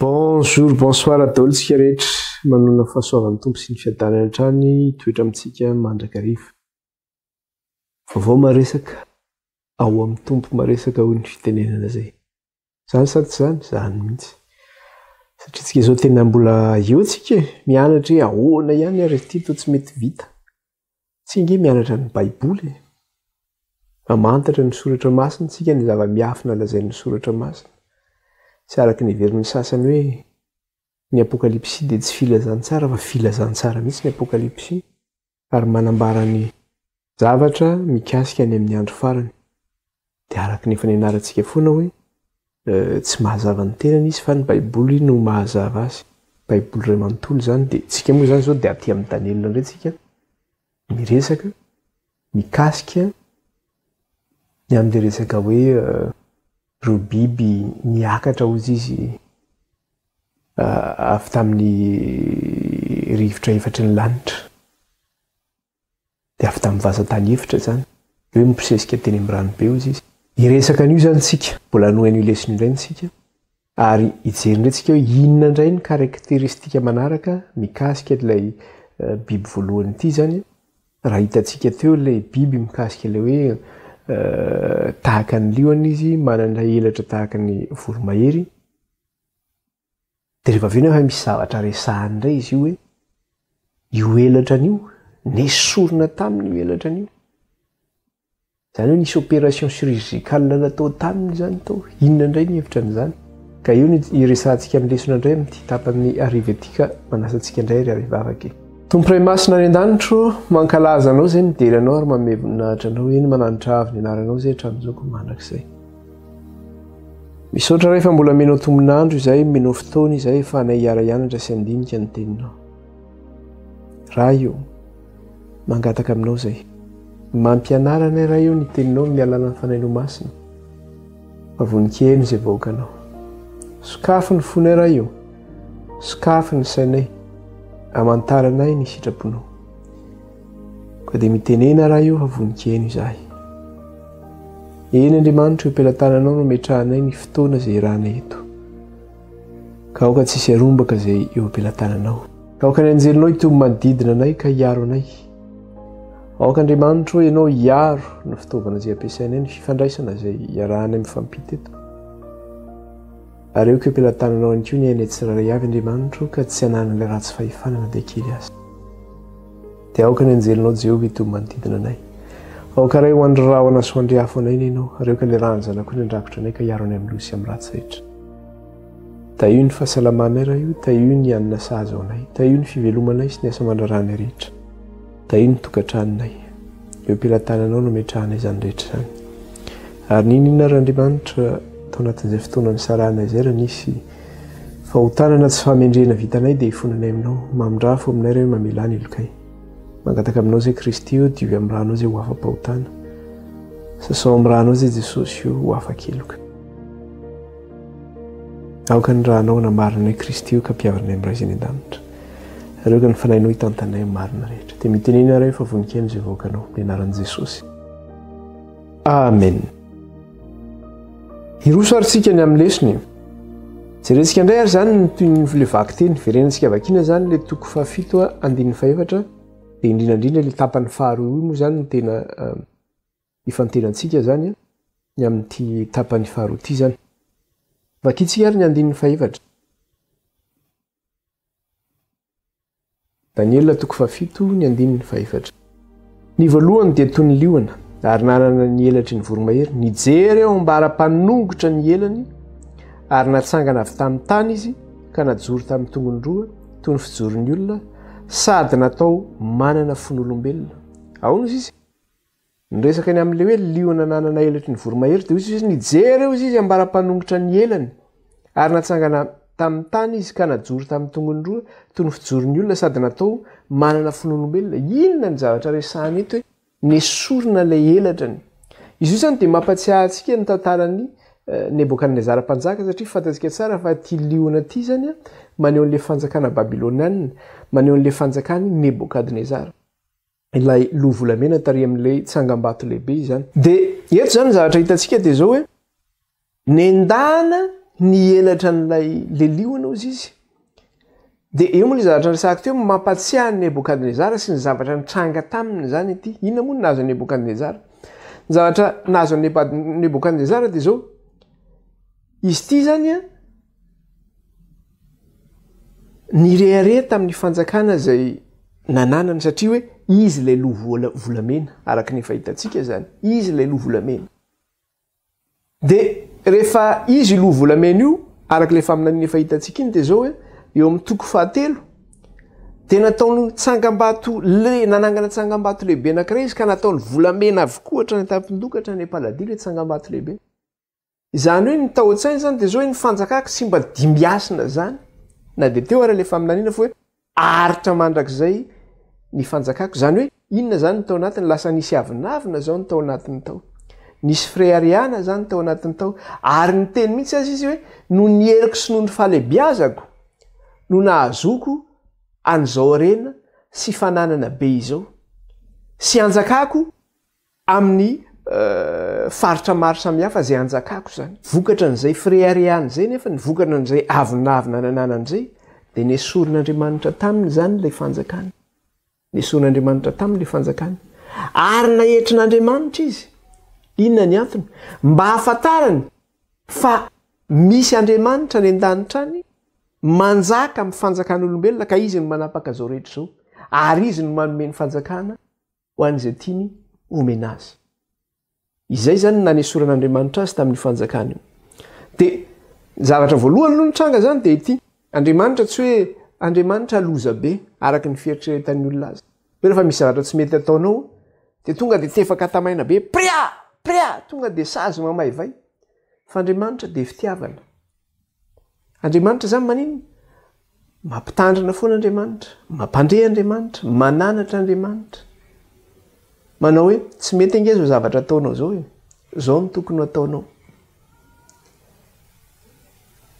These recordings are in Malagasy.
Bonjour, bonsoir daholo tsika rehetra. Manona fahasoavan'ny Tompo sy ny fiadanany hatrany toetra amintsika mandrakariva. Vaovao maresaka, ao amin'ny Tompo maresaka hoy ny fitenenana izay. Zany sa tsy zany? Zany mihitsy. Satria tsika zao tena mbola eo tsika e, mianatra hoe ahoana ihany ary ity toa tsy mety vita. Tsy ange mianatra ny baiboly e. Mamantatra ny soratra masina tsika ny zava-miafina lazain'ny soratra masina. Tsy araka ny heverin'ny sasany hoe ny apokalypsy dia tsy filazantsara fa filazantsara mihitsy ny apokalypsy. ary manambara ny zavatra mikasika ny amin'ny andro farany, dia araka ny efa nianarantsika foana hoe tsy mahazava ny tenany izy fa ny baiboly no mahazava azy, baiboly iray manontolo izany, dia isika moa izany izao dia aty amin'ny Daniela indray isika miresaka mikasika ny amin'ilay resaka hoe ireo biby miakatra hozy izy avy tamin'ny rivotra efatry ny lanitra, dia avy tamin'ny vazan-tany efitra izany. Eo mibosesika teny amin'ny ranobe hoy izy. Hiresaka an'io izany isika, mbola hanohy an'io lesona io indray isika, ary hijery indray isika hoe inona indray ny karakteristika manaraka mikasika ilay eh, biby voalohany ity izany. Raha hitantsika teo ilay biby mikasika ilay hoe eh, tahaka ny liona izy, manana elatra tahaka ny voromahery, Dia rehefa avy eo nefa misy zavatra resahany indray izy io hoe io elatra an'io, nesorina taminy io elatra an'io. Izany hoe nisy opération chirurgicale natao taminy izany tao. Inona indray ny hevitra an'izany? Ka io ny iresahantsika amin'ny lesona indray amin'ity tapany arivo ity ka manasa antsika indray ry Ray vavaka e. Tompo Ray Masina any an-danitro, mankalaza Anao izay midera Anao ary mameno voninahitra Anao, eny mananitra avo ny Anaranao izay hatramin'izao koa mandrakizay. Misaotra Ray fa mbola menao tombon'andro izay, menao fotoana izay efa anay hiara hianatra sy handinika ny teninao. Ray o, mangataka aminao izay. Mampianara anay Ray o ny teninao amin'ny alalan'ny Fanahinao Masina. Fa voninkery izay vahoakanao. Sokafy ny fonay Ray o, sokafy ny sainay, amantaranay ny sitraponao. Ka dia mitenena raha io fa vonikeno izahay. Eny Andriamanitra eo pelatananao no metrahanay ny fotoana izay irana eto. Ka aoka tsy hisy arombaka izay eo pelatananao. Ka aoka ny anjelinao hitomy manodidina anay ka hiaro anay. Aoka Andriamanitra o ianao hiaro ny fitaovana izay ampiasainay ny fifandraisana izay iarahanay mifampita eto. Ary aoka eo pelatananao ihany koa ny ainay tsirairay avy Andriamanitra o ka tsy hananan'ilay ratsy fahefana na dia kely aza. Dia aoka ny anjelinao Jehovah hitohy manodidina anay. Aoka ray ho andry rahona sy ho andry afo anay ny Ianao, ary aoka ny rahan'ny Zanakao ny handrakotra anay ka hiaro anay amin'ny loza sy amin'ny ratsy rehetra. Tahio ny fahasalamanay Ray o, tahio ny hanina sahaza ho anay, tahio ny fivelomanay sy ny asa aman-draharahanay rehetra, tahio ny tokantranonay. Eo am-pelatananao no ametrahanay izany rehetra izany. Ary n'inon'inona ary Andriamanitra, tao anatin'izay fotoana nisarahanay izay raha nisy Fahotànana sy fahamendrehana vitanay dia ifonanay aminao. Mamindraha fo aminay ireo mamelà ny helokay. Mangataka aminao izay Kristy ô, diovy amin'ny rànao izay ho afa-pahotàna. Sasao amin'ny rànao izay Jesosy ô, ho afa-keloka. Aoka ny rànao hanambarana anay Kristy ô, ka ampihavana anay amin'ny Ray izay any an-danitra. Ary aoka ny Fanahinao hitantanay amin'ny marina rehetra. Dia mitenena ianareo fa voninkaino izay vahoakanao. Amin'ny anaran'i Jesosy. Amen. Hiroso ary tsika ny amin'ny lesona e. Jerentsika indray ary izany ny toy ny le vaky teny. Verenantsika vakiana izany le toko fahafito andininy fahefatra dia indrindra indrindra le tapany faharoa io moa izany no tena ifantenantsika izany ny amin'ity tapany faharoa ity izany. Vakintsika ary ny andininy fahefatra. Daniela toko fahafito ny andininy fahefatra. Ny voalohany dia toy ny liona, ary nanana ny elatry ny voromahery. Nijery eo am-bara-panongotra ny elany, ary natsangana avy tamin'ny tany izy, ka najoro tamin'ny tongony roa, toy ny fijoron'ny olona, sady natao manana fon'olombelona. Aono izy? Niresaka ny amin'ilay hoe liona nanana elatry ny voromahery, dia hoy Jesosy, Nijery eo izy, izy ambara-panongotra ny elany, ary natsangana tamin'ny tany izy, ka najoro tamin'ny tongony roa, toy ny fijoron'ny olona, sady natao manana fon'olombelona. Inona ny zavatra resahina eto hoe nesorina ilay elatrany? Izy io izany dia mampatsiahy antsika ny tantaran'i Nebokadnezara Mpanjaka, satria fantatsika tsara fa ity liona ity izany maneho an'ilay fanjakana babylonianina, maneho an'ilay fanjakan'i Nebokadnezara. ilay loha volamena tarihan'ilay tsangambato lehibe izany. Dia eto izany ny zavatra hitantsika dia izao hoe, nendahana ny elatra an'ilay leliona hozy izy. Dia eo moa ilay zavatra niresahako teo, mampatsiahy an'i Nebokadnezara sy ny zavatra nitranga taminy izany ity. Inona moa no nahazo an'i Nebokadnezara? Ny zavatra nahazo an'i Nebokadnezara dia izao, izy ity izany an, Nirehareha tamin'ny fanjakana izay nananany satria hoe izy ilay loha volamena araka ny efa hitantsika izany, izy ilay loha volamena. Dia rehefa izy loha volamena io, araka ilay faminaniana efa hitantsika iny dia izao hoe eo amin'ny toko fahatelo dia nataony tsangambato lehibe, nanangana tsangambato lehibe anankiray izy ka nataony volamena avokoa hatrany an-tampon-doha ka hatrany am-paladia ilay tsangambato lehibe. Izany hoe ny tao an-tsainy izany dia izao hoe ny fanjakako tsy mba dimbiasina izany, na dia teo ary ilay faminaniana fa hoe aritra mandrakizay ny fanjakako. Izany hoe inona izany ny tao anatiny? Lasa nisy avonavona izao ny tao anatiny tao. Nisy fireharehana izany tao anatiny tao. Ary niteny mihitsy aza izy hoe noho ny heriko sy noho ny fahalebiazako no nahazoako an'izao harena sy fananana be izao. Sy hanjakako amin'ny faritra maro samihafa izay anjakako izany. Vokatra an'izay fireharehana izay nefa ny vokatra an'izay avonavona nananany izay dia nesorin'Andriamanitra taminy izany ilay fanjakany. Nesorin'Andriamanitra taminy ilay fanjakany. Ary naetrin'Andriamanitra izy. Inona ny antony? Mba hahafantarany fa misy Andriamanitra any an-danitra any manjaka amin'ny fanjakan'olombelona ka izy no manapaka izao rehetra izao. Ary izy no manome ny fanjakana ho an'izay tiany homena azy. Izay izany no nanesoran'Andriamanitra azy tamin'io fanjakana io. Dia ny zavatra voalohany aloha nitranga izany dia ity, Andriamanitra tsy hoe Andriamanitra loza be araka ny fieritreretan'ny olona azy. Hoe rehefa misy zavatra tsy mety ataonao dia tonga dia tefaka tamaina be, pria! pria! tonga dia sazy mamaivay. Fa Andriamanitra dia fitiavana. Andriamanitra izany maninona? Mampitandrina foana Andriamanitra, mampandre Andriamanitra, mananatra Andriamanitra. Manao hoe tsy mety ange izao zavatra ataonao izao e. Izao no tokony ho ataonao.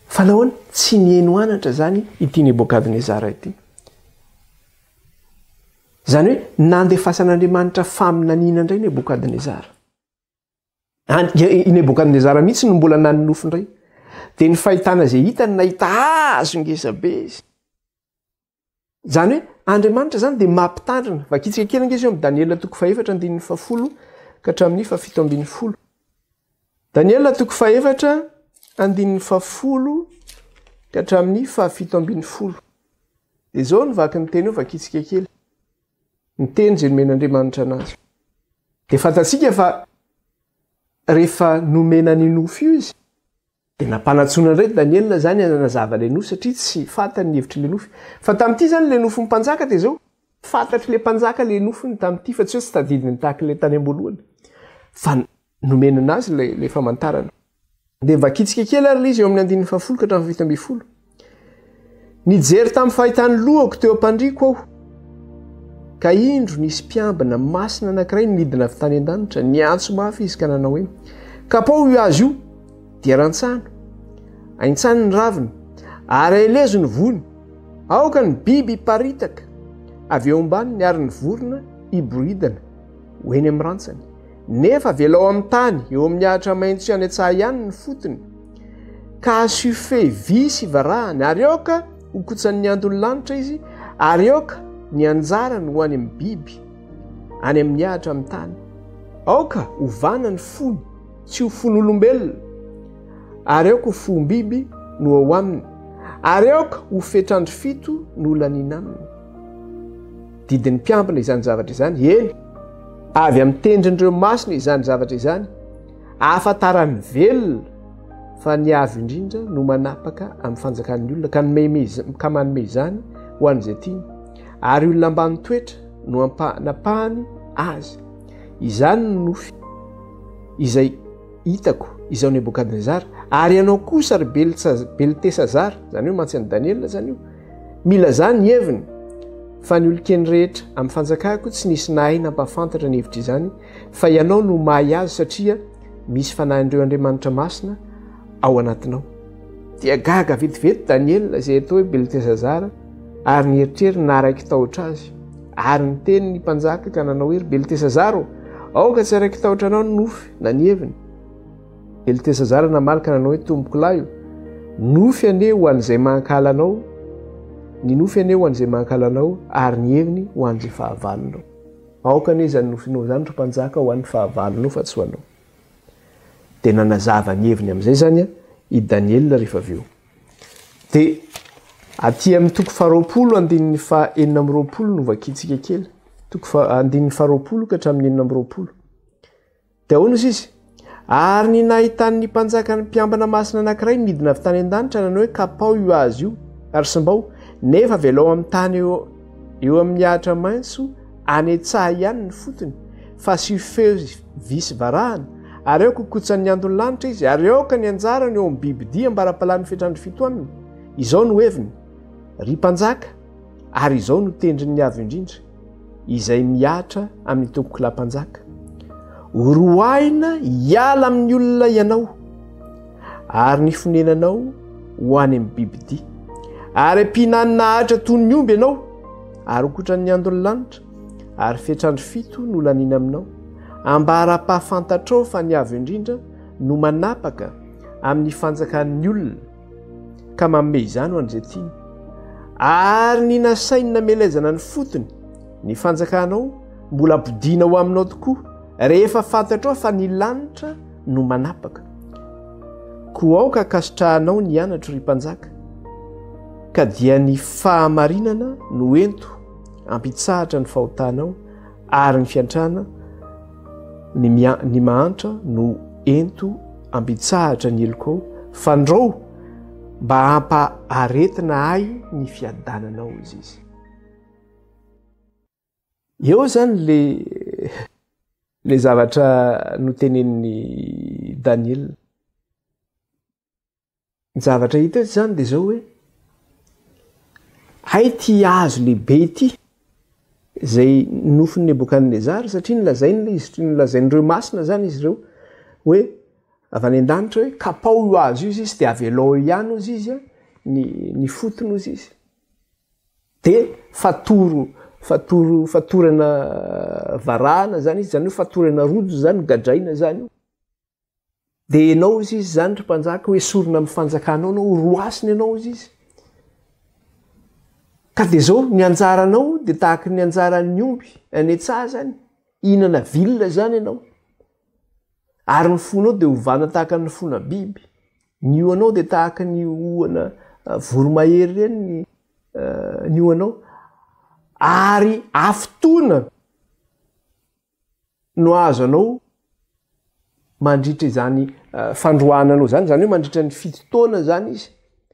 Fa nahoana? Tsy niheno anatra izany ity Nebokadnezara ity. Izany hoe nandefasan'Andriamanitra faminaniana indray Nebokadnezara. I Nebokadnezara mihitsy no mbola nanonofy indray. Dia ny fahitana izay hitany nahita hazo ngezabe izy. Izany hoe Andriamanitra izany dia mampitandrina. Vakitsika kely ngezy eo amin'ny Daniela toko fahefatra andininy fahafolo ka hatramin'ny fahafito ambin'ny folo. Daniela toko fahefatra andininy fahafolo ka hatramin'ny fahafito ambin'ny folo. Dia izao ny vaky ny teny eo vakitsika kely. ny teny izay nomen'Andriamanitra anazy. Dia fantatsika fa rehefa nomena ny nofo io izy, dia nampanatsoina indray Daniela izany hanazava ilay nofo satria tsy fantany ny hevitry ilay nofo. Fa tamin'ity izany ilay nofon'ny mpanjaka dia izao, fantatry ilay mpanjaka ilay nofony tamin'ity fa tsy hoe tsy tadidiny tahaka ilay tany am-boalohany fa nomena anazy ilay famantarana. Dia vakitsika kely ary ilay izy eo amin'ny andininy fahafolo ka hatramin'ny fito ambin'ny folo. Nijery tamin'ny fahitan'ny lohako teo am-pandriako aho, ka indro nisy mpiambina masina anankiray nidina avy tany an-danitra, niantso mafy izy ka nanao hoe, Kapao io azy io, dia rantsano, aintsano ny raviny, ary aelezo ny voany, aoka ny biby hiparitaka avy eo ambaniny ary ny vorona hiboridana ho eny amin'ny rantsany. Nefa velao amin'ny tany, eo amin'ny ahitra maitso sy any an-tsaha ihany ny fotony, ka asio fey vy sy varahany, ary aoka ho kotsan'ny anton'ny lanitra izy, ary aoka ny anjarany ho any amin'ny biby, any amin'ny ahitra amin'ny tany. Aoka hovana ny fony, tsy ho fon'olombelona, ary aoka ho fohom-biby no ao aminy, ary aoka ho fetr'andro fito no laniana aminy. Didin'ny mpiambina izany zavatra izany, eny, avy amin'ny tendrin'ireo masina izany zavatra izany, ahafantaran'ny velona fa ny avo indrindra no manapaka amin'ny fanjakan'ny olona ka nomeimeizany ka manome izany ho an'izay tiany ary olona ambany toetra no ampanapahany azy izany no nofy izay hitako izao nebokadnezara ary ianao kosa ry beltesa beltesazara izany hoe mantsy an'i daniela izany io Mila zany ny heviny fa ny olokeny rehetra amin'ny fanjakako tsy nisy nahay nampahafantatra ny hevitra izany fa ianao no mahay azy satria misy fanahin'ireo Andriamanitra masina ao anatinao. Dia gaga vetivety Daniela izay atao hoe Beltesazara ary nieritreriny naharai-kitahotra azy. Ary niteny ny mpanjaka ka nanao hoe, Ry Beltesazara ô, aoka tsy harai-kitahotra anao ny nofy na ny heviny. Beltesazara namaly ka nanao hoe, Tompokolahy o, nofy anie ho an'izay mankahala anao, ny nofy anie ho an'izay mankahala anao, ary ny heviny ho an'izay fahavalonao. Aoka anie izany nofinao izany, ry mpanjaka, ho an'ny fahavalonao fa tsy ho anao. Dia nanazava ny heviny amin'izay izany i Daniela rehefa avy eo. Dia aty amin'ny toko faharoapolo andininy fa enina amby roapolo no vakintsika kely. Toko fa andininy faharoapolo ka hatramin'ny enina amby roapolo. Dia hoy ny Sisa, Ary ny nahitany ny mpanjaka ny mpiambina masina anankiray nidina avy tany an-danitra nanao hoe, Kapao io azy io, ary simbao, nefa avelao amin'ny tany eo, eo amin'ny ahitra maitso, anetsaha ihany ny fotony, fasiho feo vy sy varahana, ary aoka hokotsan'ny andon'ny lanitra izy, ary aoka ny anjarany eo amin'ny bibidia ambara-palan'ny fetrandro fito aminy. Izao no heviny, Ry mpanjaka, Ary izao no tendrin'ny Avo Indrindra, izay mihatra amin'ny tompokolahy-mpanjaka, Horoahina hiala amin'ny olona ianao, ary ny fonenanao ho any amin'ny bibidia, ary ampihinanina ahitra toy ny omby ianao, ary hokotran'ny andon'ny lanitra, ary fetr'andro fito no laniana aminao, ambara-pahafantatrao fa ny Avo Indrindra no manapaka amin'ny fanjakan'ny olona, ka maome izany ho an'izay tiany ary ny nasainy namelezana ny fotony ny fanjakanao mbola bodina ho aminao tokoa rehefa fantatrao fa ny lanitra no manapaka ko aoka akasitrahanao ny anatro ry mpanjaka ka dia ny fahamarinana no ento ampitsahatra ny fahotanao ary ny fiantrana ny mia ny mahantra no ento ambitsahatra ny eloko fandrao mba hampa aretina ahy ny fiadananao izy izy eo zany le le zavatra notenenin'ny daniela Ny zavatra hita eto izany dia izao hoe, hay ity hazo lehibe ity izay nofin'i Nebokadnezara, satria nolazainy ilay izy, nolazain'ireo masina izany izy ireo hoe avy any an-danitra hoe kapao io hazo io izy izy dia avelao eo ihany hozy izy a, ny, ny fotony hozy izy. Dia fatoro, fatoro, fatorana varahana izany izy, izany hoe fatorana rojo izany, gadraina izany io. Dia ianao hozy izy izany ry mpanjaka hoe sorona amin'ny fanjakanao ianao, horohasina ianao hozy izy. Ka dia izao, ny anjaranao dia tahaka ny anjaran'ny omby any an-tsazany, hihinana vilona izany ianao. Ary ny fonao dia hovana tahaka ny fona biby. Ny ohanao dia tahaka ny ohana ah, voromahery ireny ny, uh, ny ohanao. Ary afotoana no hahazo anao mandritra izany fandroahana anao izany, izany hoe mandritra ny fito taona izany izy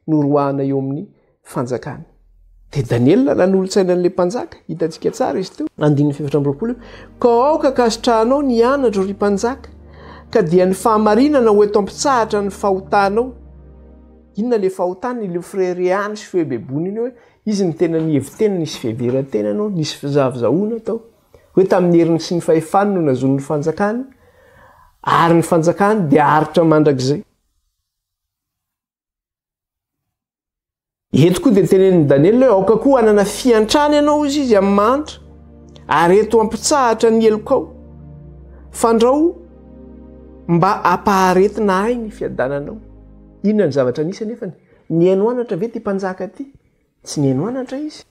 no roahana eo amin'ny fanjakany. Dia Daniela nanolotsaina an'ilay mpanjaka, hitantsika tsara izy teo, andininy fefatra ambiroapolo, ka aoka kasitrahanao ny anatro ry mpanjaka, ka dia ny fahamarinana ho eto ampitsahatra ny fahotanao. Inona ilay fahotany? Ilay firehirehany sy fihebeboniny hoe izy ny tena nihevi-tena, nisy fiheveran-tena anao, nisy fizahavizahoana tao. hoe tamin'ny heriny sy ny fahefany no nazony ny fanjakany, ary ny fanjakany dia aritra mandrakizay. Eto koa dia tenenin'i Daniela hoe aoka koa hanana fiantrana ianao hoy izy amin'ny mahantra, ary eto ampitsahatra ny helokao. Fandrao mba hampaharetina ahy ny fiadananao. Inona ny zavatra nisy anefany? Nihaino anatra ve ity mpanjaka ity? Tsy nihaino anatra izy.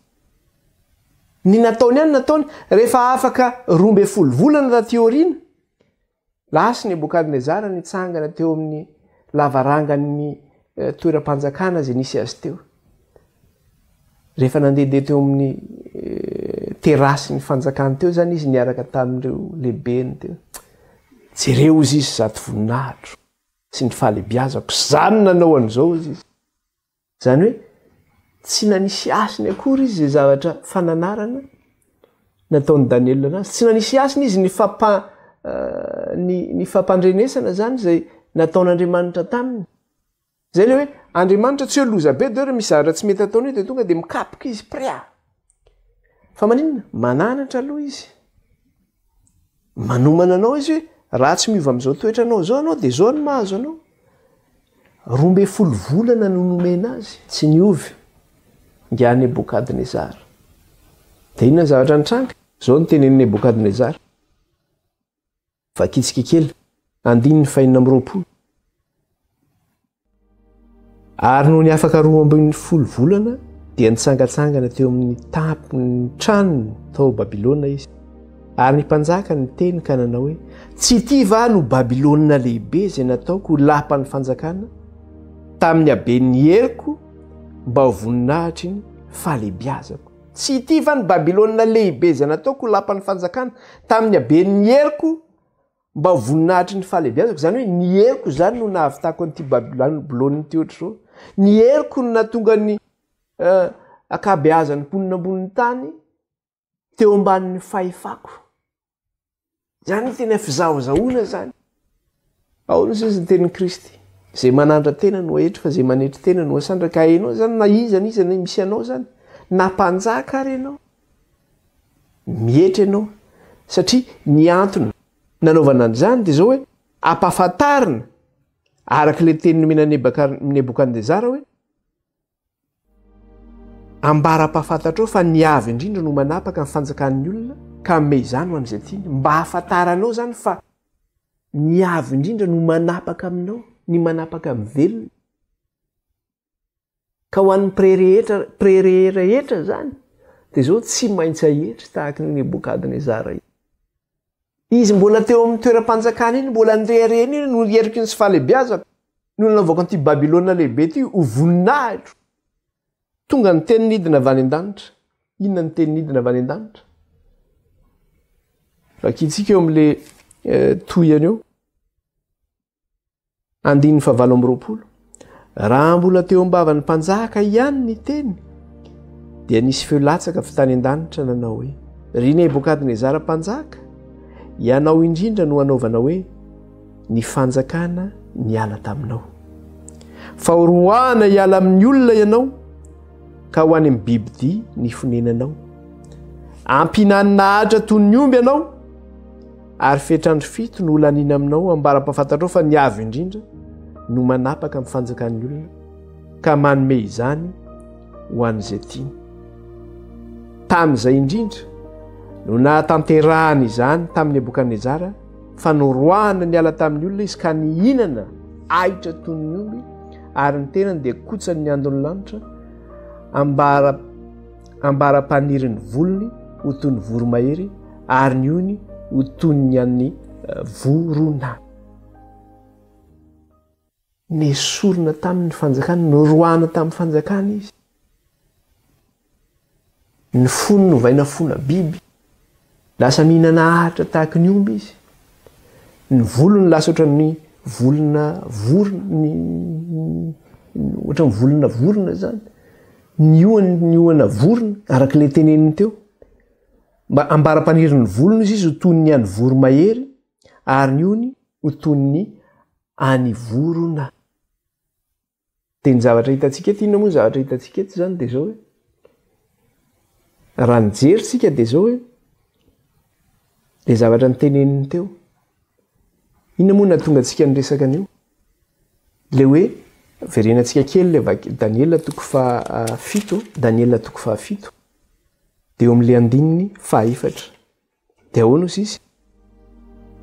Ny nataony ihany nataony, rehefa afaka roa ambin'ny folo volana taty aoriana, lasa i Nebokadnezara nitsangana teo amin'ny lavarangan'ny eh, toeram-panjakana izay nisy azy teo. Rehefa nandehandeha teo amin'ny eh, terasin'ny fanjakany teo izany izy niaraka tamin'ireo lehibeny teo. Jereo izy izy zato voninahitro sy ny fahalebiazako, izany nanao an'izao izy izy. Izany hoe tsy nanisy hasiny akory izy izay zavatra fananarana nataon'i Daniela anazy. Tsy nanisy hasiny izy ny fampa ny ny fampandrenesana izany izay nataon'Andriamanitra taminy. Izay ilay hoe Andriamanitra tsy hoe loza be dia hoe raha misy zavatra tsy mety ataonao dia tonga dia mikapoka izy pria! Fa maninona? Mananatra aloha izy. Manomana anao izy hoe raha tsy miova amin'izao toetranao izao ianao dia izao no mahazo anao. Roa ambin'ny folo volana no nomena azy, tsy niova. Ingahy Nebokadnezara. Dia inona ny zavatra nitranga? Izao no tenenin'i Nebokadnezara. Vakitsika kely andininy fahenina amby roapolo. Ary nony afaka roa ambin'ny folo volana, dia nitsangatsangana teo amin'ny tampon'ny tranony tao Babylona izy. Ary ny mpanjaka niteny ka nanao hoe, Tsy ity va no Babylona lehibe izay nataoko ho lapan'ny fanjakana tamin'ny haben'ny heriko mba ho voninahitry ny fahalehibiazako? Tsy ity va ny Babylona lehibe izay nataoko ho lapan'ny fanjakana tamin'ny haben'ny heriko Mba ho voninahitry ny fahalehibiazako, izany hoe ny heriko izany no nahavitako an'ity Babylona ity ohatr'izao. Ny heriko no nahatonga ny ankabeazan'ny mponina ambonin'ny tany teo ambanin'ny fahefako. Izany no tena fizahozahoana izany. Ao ny sisa ny tenin'i Kristy. Izay manantra tena no ahetry fa izay manetry tena no asandraka. Ka ianao izany na iza na iza misy anao izany, na mpanjaka ary ianao, Mietra ianao satria ny antony nanaovana an'izany dia izao hoe ampahafantarina araka ilay teny nomena an'i Nebokadnezara hoe ambara ampahafantatrao fa ny avy indrindra no manapaka ny fanjakan'ny olona ka hanome izany ho an'izay tiany. Mba hahafantaranao izany fa ny avy indrindra no manapaka aminao, ny manapaka amin'ny velona. Ka ho an'ny prerehetra prereherehetra izany dia izao tsy maintsy ahetry tahaka an'i Nebokadnezara iny. Izy mbola teo amin'ny toeram-panjakana iny, mbola ny reharehany iny no heriko iny sy fahalehibiazako, no nanaovako an'ity Babylona lehibe ity ho voninahitro. Tonga ny teny nidina avy any an-danitra. Inona ny teny nidina avy any an-danitra? Vakintsika eo amin'ilay tohiny eo. Andininy fahavalo amby roapolo. Raha mbola teo am-bavan'ny mpanjaka ihany ny teny, dia nisy feo latsaka avy tany an-danitra nanao hoe, Ry Nebokadnezara mpanjaka, ianao indrindra no anaovana hoe, Ny fanjakana niala taminao. Fa horoahana hiala amin'ny olona ianao, ka ho any amin'ny bibidia ny fonenanao. Ampihinanina ahatra toy ny omby ianao, Ary fetr'andro fito no holaniana aminao ambara ampahafantatrao fa ny Avo Indrindra no manapaka amin'ny fanjakan'ny olona ka manome izany ho an'izay tiany. Tamin'izay indrindra no nahatanterahany izany tamin'i Nebokadnezara fa noroahana niala tamin'ny olona izy ka nihinana ahitra toy ny omby ary ny tenany dia kotsany ny andon'ny lanitra ambara Ambara paniry ny volony ho toy ny voromahery ary ny hohony ho toy ny an'ny vorona. Nesorina tamin'ny fanjakany, noroahana tamin'ny fanjakany izy. Ny fony novaina fona biby, Lasa mihinana ahitra tahaka ny omby izy. Ny volony lasa ohatran'ny volona vorona, ny ohatran'ny volona vorona izany. Ny ohany ny ohana vorona, araka ilay teneniny teo. Mba ambara-panirin'ny volony izy ho toy ny an'ny voromahery, ary ny ohany ho toy ny an'ny vorona. Dia ny zavatra hitantsika eto, inona moa ny zavatra hitantsika eto izany dia izao hoe, raha nijery isika dia izao hoe, ilay zavatra niteneniny teo. Inona moa nahatonga antsika niresaka an'io? Ilay hoe, verenantsika kely ilay vaky Daniela toko fahafito, Daniela toko fahafito, dia eo amin'ilay andininy fahaefatra. Dia ahoana hozy izy?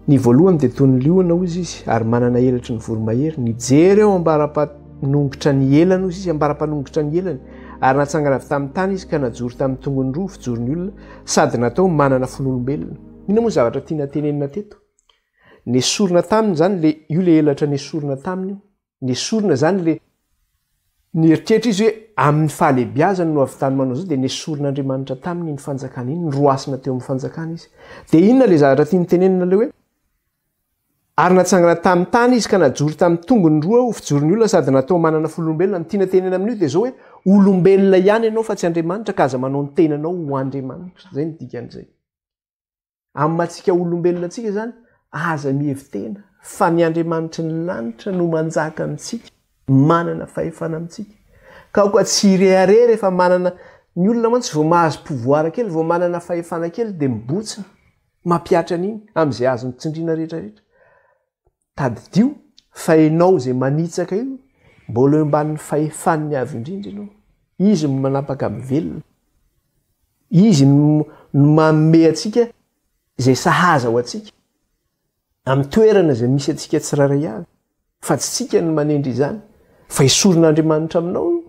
Ny voalohany dia toy ny liona hozy izy ary manana elatry ny voromahery. Nijery eo ambara-panongotra ny elany hozy izy, ambara-panongotra ny elany, ary natsangana avy tamin'ny tany izy ka najoro tamin'ny tongony roa fijoron'ny olona sady natao manana fon'olombelona. Inona moa ny zavatra tiana tenenina teto? Nesorina taminy izany, io ilay elatra nesorina taminy io. nesorina zany le nieritreritra izy hoe amin'ny fahalebiazany no ahavitany manao zao dia nesorin'Andriamanitra taminy iny fanjakana iny, niroasina teo amin'ny fanjakana izy. Dia inona le zavatra tiany tenenina le hoe ary natsangana tamin'ny tany izy ka najoro tamin'ny tongony roa ho fijoron'ny olona sady natao manana fololombelona, ny tiana tenenina amin'io dia zao hoe olombelona ihany ianao fa tsy Andriamanitra ka aza manao ny tenanao ho Andriamanitra, zay ny dikan'izay. Amin'ny maha antsika olombelona antsika izany, aza mihevi-tena fa ny Andriamanitry ny lanitra no manjaka amintsika, manana fahefana amintsika. Ka aoka tsy hirehareha rehefa manana, ny olona mantsy vao mahazo pouvoir kely, vao manana fahefana kely dia mibontsina, mampihatra an'iny, amin'izay azony tsindriana rehetra rehetra. Tadidio fa ianao izay manitsaka io mbola eo ambanin'ny fahefan'ny Avo Indrindra ianao. Izy no manapaka amin'ny velona. Izy no manome antsika izay sahaza ho antsika, amin'ny toerana izay misy antsika tsirairay avy, fa tsy tsika no manendry izany, fa esorin'Andriamanitra aminao io.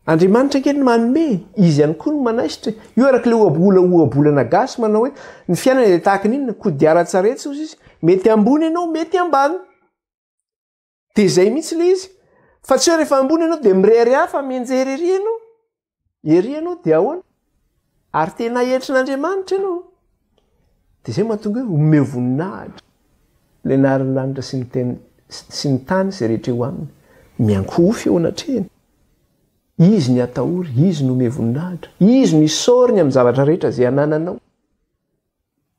Andriamanitra ange no manome, Izy ihany koa no manaisotra e! Io araka ilay ohabola ohabolana gasy manao hoe ny fiainana dia tahaka ny inona, kodiaran-tsarety hozy izy, mety ambony ianao, mety ambany. Dia izay mihitsy ilay izy. Fa tsy hoe rehefa ambony ianao dia mirehareha fa mianjery ery ianao, ery ianao dia ahoana? Ary tena heritrin'Andriamanitra ianao, dia izay mahatonga hoe omeo voninahitra ilay anaran'ny lanitra sy ny teny sy ny tany izay rehetra eo aminy. Miankohofa eo anatrehany. Izy ny atahory, Izy ny omeo voninahitra, Izy no isaoriny amin'ny zavatra rehetra izay anananao.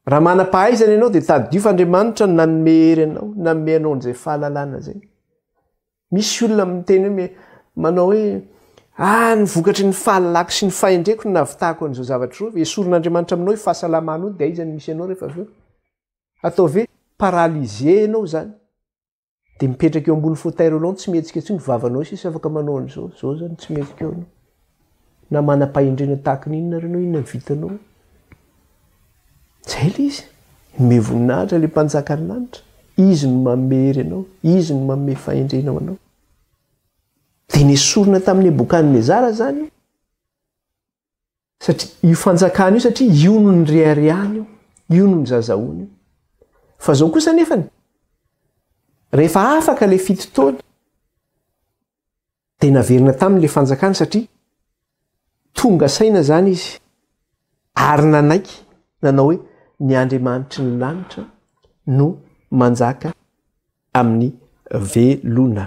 Raha manam-pahaizana ianao dia tadidio fa Andriamanitra no nanome hery anao, nanome anao an'izay fahalalana izay. Misy olona miteny hoe me, manao hoe, Ah, ny vokatry ny fahalalako sy ny fahendreko no nahavitako an'izao zavatra izao. Esorin'Andriamanitra aminao io fahasalamanao io, dia aiza no misy anao rehefa avy eo? Ataovy hoe paralysé ianao izany. Dia mipetraka eo ambony fauteuil roulant tsy mihetsika intsony vavanao sisa afaka manao an'izao, izao izany tsy mihetsika eo ianao. Na manam-pahendrena tahaka ny inona ary ianao, inona no vitanao? Izay ilay izy. Nomey voninahitra ilay Mpanjakan'ny lanitra. Izy no manome hery anao. Izy no manome fahendrena ho anao. Dia nesorina tamin'i Nebokadnezara izany io. Satria io fanjakana io, satria io no nireharehany io. Io no nizazahoany io. Fa izao kosa anefany, rehefa afaka ilay fito taona, Dia naverina taminy ilay fanjakana satria tonga saina izany izy ary nanaiky nanao hoe ny Andriamanitry ny lanitra no manjaka amin'ny velona.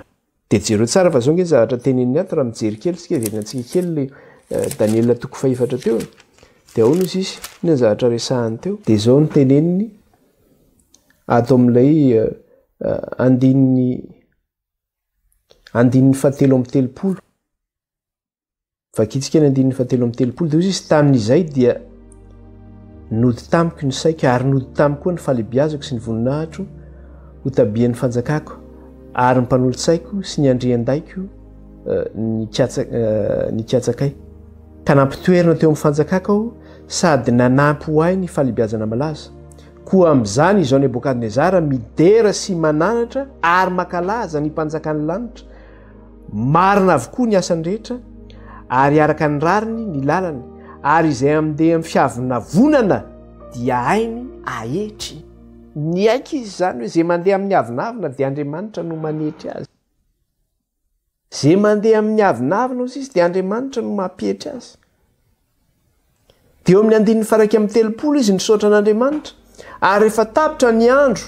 Dia jereo tsara fa zao nge zavatra tenenin'ny ato raha mijery kely isika averina antsika kely le eh, Daniela toko fahefatra teo dia ahoana izy izy inona ny zavatra resahany teo dia zao ny teneniny ato amin'ilay eh, eh, andininy Andininy fahatelo amby telopolo. Vakintsika ny andininy fahatelo amby telopolo. Dia hoy izy, tamin'izay dia nody tamiko ny saiko ary nody tamiko koa ny falebiazako sy ny voninahitro ho tabian'ny fanjakako ary ny mpanolo-tsaiko sy ny andrian-daiko eh, eh, nikatsakay. Ka nampitoerina teo amin'ny fanjakako aho sady nanampy ho ahy ny falebiazana malaza. Koa amin'izany izao Nebokadnezara midera sy mananatra ary makalaza ny mpanjakan'ny lanitra, marina avokoa ny asany rehetra ary araka ny rariny ny lalany, ary izay amindeha amin'ny fiavonavonana dia hainy ahetry. Niaiky izy izany hoe izay mandeha amin'ny avonavona dia Andriamanitra no manetry azy. Ze mandeha amin'ny avonavona ozy izy dia Andriamanitra no mampietry azy. Dia eo amin'ny andininy faraika amin'ny telopolo izy nisaotra an'Andriamanitra ary efa tapitra ny andro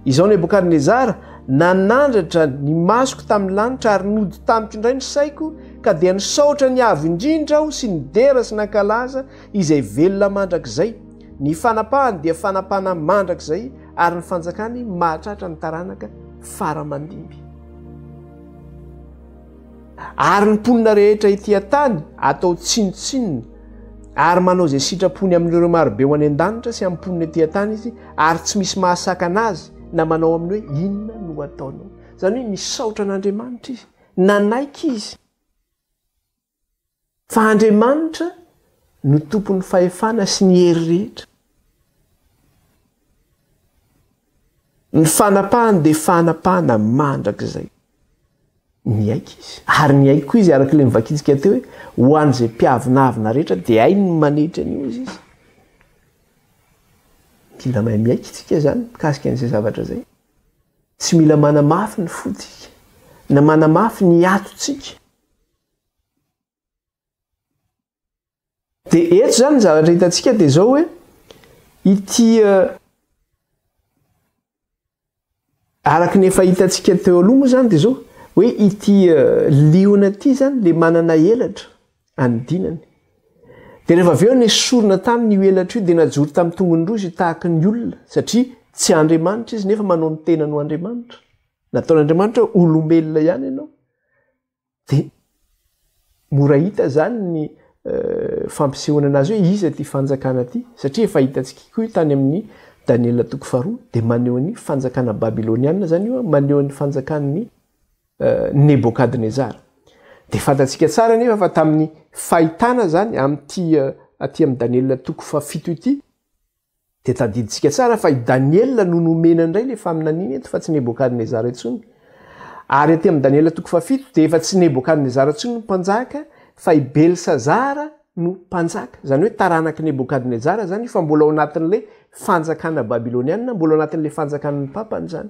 izao Nebokadnezara nanandratra ny masoko tamin'ny lanitra ary nody tamiko indray ny saiko ka dia nisaotra ny avo indrindra aho sy nidera sy nankalaza izay velona mandrakizay ny fanapahany dia fanapana mandrakizay ary ny fanjakany mahatratra ny taranaka faramandimby Ary ny mponina rehetra ety an-tany atao tsinontsinona, ary manao izay sitrapony amin'ireo marobe ho any an-danitra sy amin'ny mponina ety an-tany izy, ary tsy misy mahasakana azy na manao aminy hoe, Inona no ataonao? Izany hoe nisaotra an'Andriamanitra izy, nanaiky izy. Fa Andriamanitra no tompon'ny fahefana sy ny hery rehetra. Ny fanapahany dia fanapahana mandrakizay. Niaiky izy, ary niaiky koa izy araka ilay novakintsika teo hoe ho an'izay mpiavonavona rehetra dia hainy ny manetry an'io izy izy. Mila mahay miaiky isika izany mikasika an'izay zavatra izay. Tsy mila manamafy ny fontsika na manamafy ny atontsika. Dia eto izany ny zavatra hitantsika dia izao hoe ity araka ny efa hitantsika teo aloha moa izany dia izao hoe ity liona ity izany le manana elatra any dinany dia rehefa avy eo ny sorona taminy io elatra io dia najoro tamin'ny tongony roa izy tahaka ny olona satria tsy andriamanitra izy nefa manao ny tenany ho andriamanitra nataon'andriamanitra olombelona ihany ianao Dia mora hita izany ny fampisehoana anazy hoe iza ity fanjakana ity, satria efa hitantsika koa io tany amin'ny Daniela toko faharoa, dia maneho ny fanjakana babyloniana izany io, maneho ny fanjakan'ny Nebokadnezara. Dia fantantsika tsara anefa fa tamin'ny fahitana izany amin'ity aty amin'ny Daniela toko fahafito ity, Dia tadidintsika tsara fa i Daniela no nomena indray ilay faminaniana eto fa tsy Nebokadnezara intsony. Ary aty amin'i Daniela toko fahafito dia efa tsy Nebokadnezara intsony no mpanjaka fa i Belsazara no mpanjaka. Izany hoe taranak'i Nebokadnezara izany io fa mbola ao anatin'ilay fanjakana babylonianina, mbola ao anatin'ilay fanjakan'ny papany izany.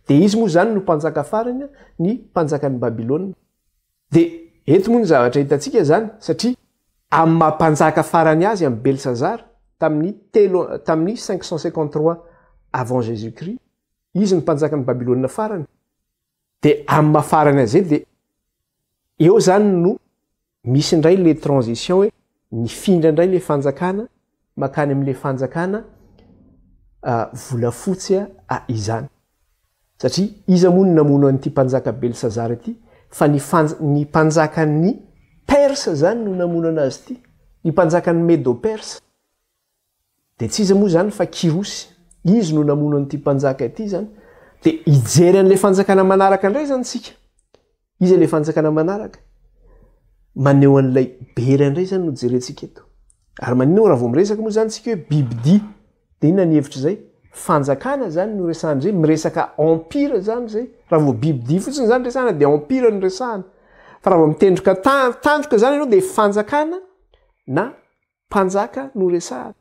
Dia izy moa izany no mpanjaka farany, ny mpanjakan'i Babylona. Dia eto moa ny zavatra hitantsika izany, satria amin'ny maha mpanjaka farany azy amin'i Belsazara, tamin'ny telo, tamin'ny cinq cent cinquante trois avant Jesus Christ, izy no mpanjakan'i Babylona farany, dia amin'ny maha farany azy eto, dia eo izany no misy indray ilay transition hoe, nifindra indray ilay fanjakana, makany amin'ilay fanjakana volafotsy izany. Satria iza moa no namono an'ity mpanjaka Belsazara ity fa ny ny mpanjakan'ny Persa izany no namono an'azy ity, ny mpanjakan'ny Medo-Persa. Dia tsy iza moa izany fa Kyrosy, izy no namono an'ity mpanjaka ity izany. Dia hijery an'ilay fanjakana manaraka indray izany isika. Iza ilay fanjakana manaraka? Maneho an'ilay bera indray izany no jerentsika eto. Ary maninona moa raha vao miresaka moa izany isika hoe bibidia? Dia inona ny hevitry izay? Fanjakana izany no resahana izay, miresaka empire izany izay. Raha vao bibidia fotsiny izany resahana dia empire no resahana. Fa raha vao mitendroka tandroka izany ianao dia fanjakana na mpanjaka no resahana.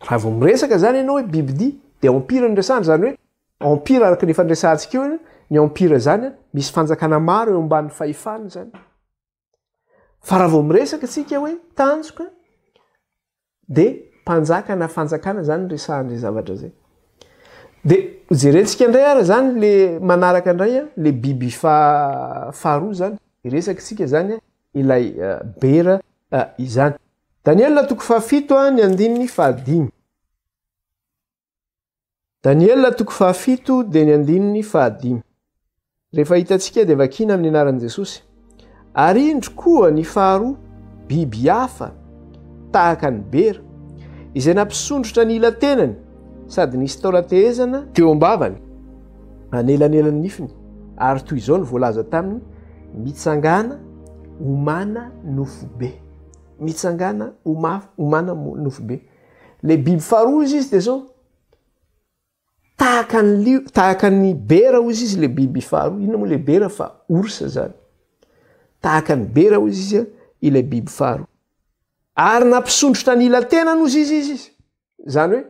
Raha vao miresaka izany ianao hoe bibidia, dia empire no resahana, izany hoe empire araka ny efa niresahantsika eo aloha, ny empire izany misy fanjakana maro eo ambanin'ny fahefany izany. Fa raha vao miresaka isika hoe tanjoka, dia mpanjaka na fanjakana izany no resahan'izay zavatra izay. Dia jerentsika indray ary izany le manaraka indray le biby faharoa izany, iresaka isika izany ilay bera izany. Daniela toko fahafito ny andininy fahadimy. Daniela toko fahafito dia ny andininy fahadimy. Rehefa hitantsika dia vakina amin'ny anaran'i Jesosy. Ary indro koa ny faharoa, biby hafa tahaka ny bera, izay nampisondrotra ny ila-tenany sady nisy taolan-tehezana teo am-bavany, anelanelan'ny nifiny, ary toy izao no voalaza taminy, Mitsangàna, homana nofobe. mitsangana ho mafy ho mana nofo be le biby faharoa izy izy de zao tahaka ny lio tahaka ny bera hoy izy izy le biby faharoa inona moa le bera fa orsa zany tahaka ny bera hoy izy izy ilay biby faharoa ary nampisondrotra ny ila-tenany hoy izy izy izy Zany hoe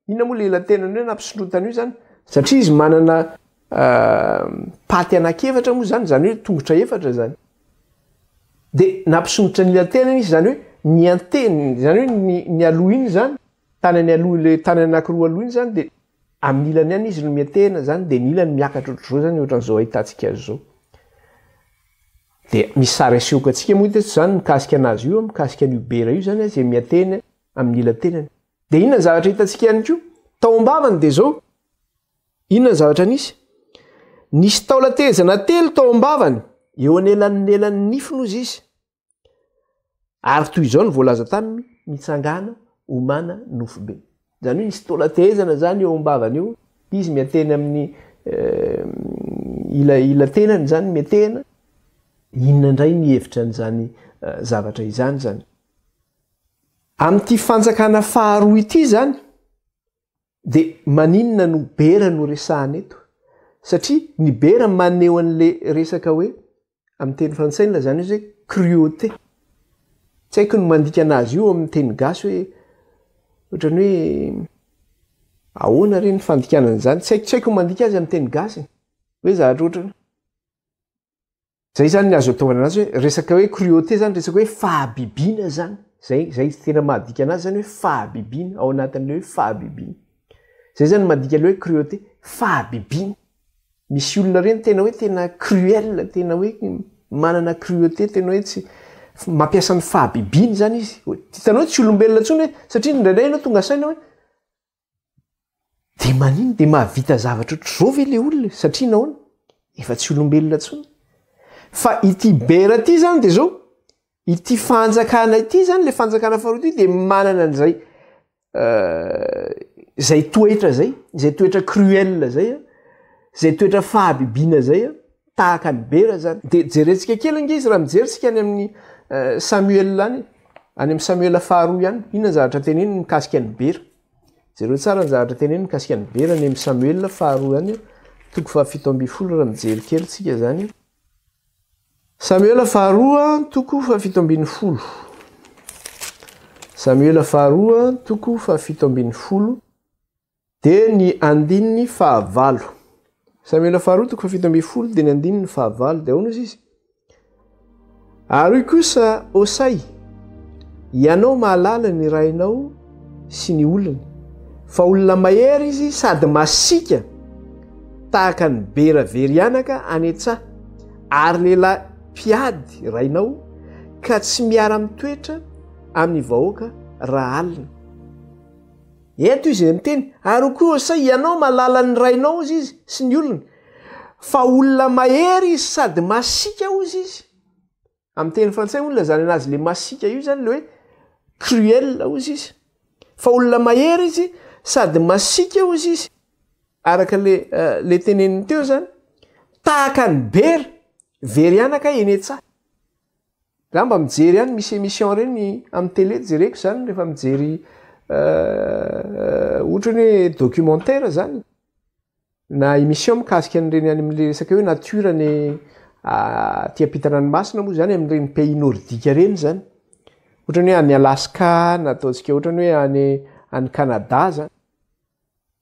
inona moa le elatenany hoe nampisondrotana io zany? Satria izy manana paty anak'efatra moa zany, zany hoe tongotra efatra zany. De nampisondrotra ny elatenany izy zany hoe ny anteny, zany hoe ny ny aloha iny zany, tanany aloha le tanany anankiroa aloha iny zany de amin'ny ilany ihany izy no miantehana zany de ny ilany miakatra ohatr'izao zany ohatr'izao ahitantsika azy zao. De misy sary asehoko antsika moa teto zany mikasika anazy io, mikasika an'io bera io zany izay miantehana amin'ny ila tenany. Dia inona ny zavatra hitantsika ihany koa? Tao am-bavany dia izao. Inona ny zavatra nisy? Nisy taolan-tehezana telo tao am-bavany, eo anelanelan'ny nifiny hozy izy. Ary toy izao no voalaza taminy, mitsangana, omana, nofobe. Izany hoe nisy taolan-tehezana izany eo am-bavany eo, izy mianteny amin'ny eh, ila, ila tenany izany miantehana. Inona indray ny hevitra an'izany eh, zavatra izany izany? Amin'ity fanjakana faharoa ity izany dia maninona no bera no resahana eto? Satria ny bera maneho an'ilay resaka hoe, amin'ny teny frantsay ny lazana izy hoe cruauté. Tsy haiko ny mandika anazy io amin'ny teny gasy hoe ohatran'ny hoe ahoana re ny fandikana an'izany? Tsy haiko, tsy haiko ny mandika azy amin'ny teny gasy e. Hoe zavatra ohatran'ny. zay zany ny azo ataovana anazy hoe resaka hoe cruauté zany resaka hoe fahabibiana zany zay zay tena mahadika anazy zany hoe fahabibiana ao anatin'le hoe fahabibiana zay zany madika le hoe cruauté fahabibiana misy olona reny tena hoe tena cruel tena hoe manana cruauté tena hoe tsy mampiasa ny fahabibiana zany izy hitanao tsy olombelona ntsony hoe satria ndraindray ianao tonga saina hoe Dia manino? Dia mahavita zavatra ohatr'izao ve ilay olona e? Satria nahoana? Efa tsy olombelona intsony. Fa ity bera ity izany dia izao, ity fanjakana ity izany, ilay fanjakana faharoa ity dia manana an'izay euh, izay toetra izay, izay toetra cruel izay, izay toetra fahabibiana izay. Tahaka an'i Bera zany. Dia jerentsika kely ange izy raha mijery tsika any amin'ny Samuel any, any amin'ny Samuel faharoa ihany. Inona ny zavatra teneniny mikasika an'i Bera? Jereo tsara ny zavatra teneniny mikasika an'i Bera any amin'ny Samuel faharoa ihany, toko fahafito ambin'ny folo raha mijery kely tsika zany. Samuel faharoa, toko fahafito ambin'ny folo. Samuel faharoa, toko fahafito ambin'ny folo. Dia ny andininy fahavalo. Samoela faharoa toko fahafito ambin'ny folo dia ny andininy fahavalo dia ahoana hozy izy? Ary hoy kosa Hosay, ianao mahalala ny rainao sy ny olony, fa olona mahery izy sady masiaka tahaka ny bera very anaka any an-tsaha, ary lehilahy mpiady rainao, ka tsy miara-mitoetra amin'ny vahoaka raha alina. Eto izy miteny, ary koa sa ianao mahalala ny rainao hozy izy sy ny olony, fa olona mahery izy sady masiaka hozy izy. Amin'ny teny frantsay hono ilazana anazy le masiaka io izany le hoe cruel hozy izy. Fa olona mahery izy sady masiaka hozy izy. Araka le le teneniny teo izany, tahaka ny bera, very anaka eny an-tsaha. Za mba mijery ihany misy emission reny am tele jereko zany refa mijery otrany hoe documentaire zany na emission mikasika an'ireny any amle resaka hoe nature any aty ampitanranomasina moa zany am'ireny pays nordique reny zany otrany hoe any Alaska na ataontsika otrany hoe any any Canada zany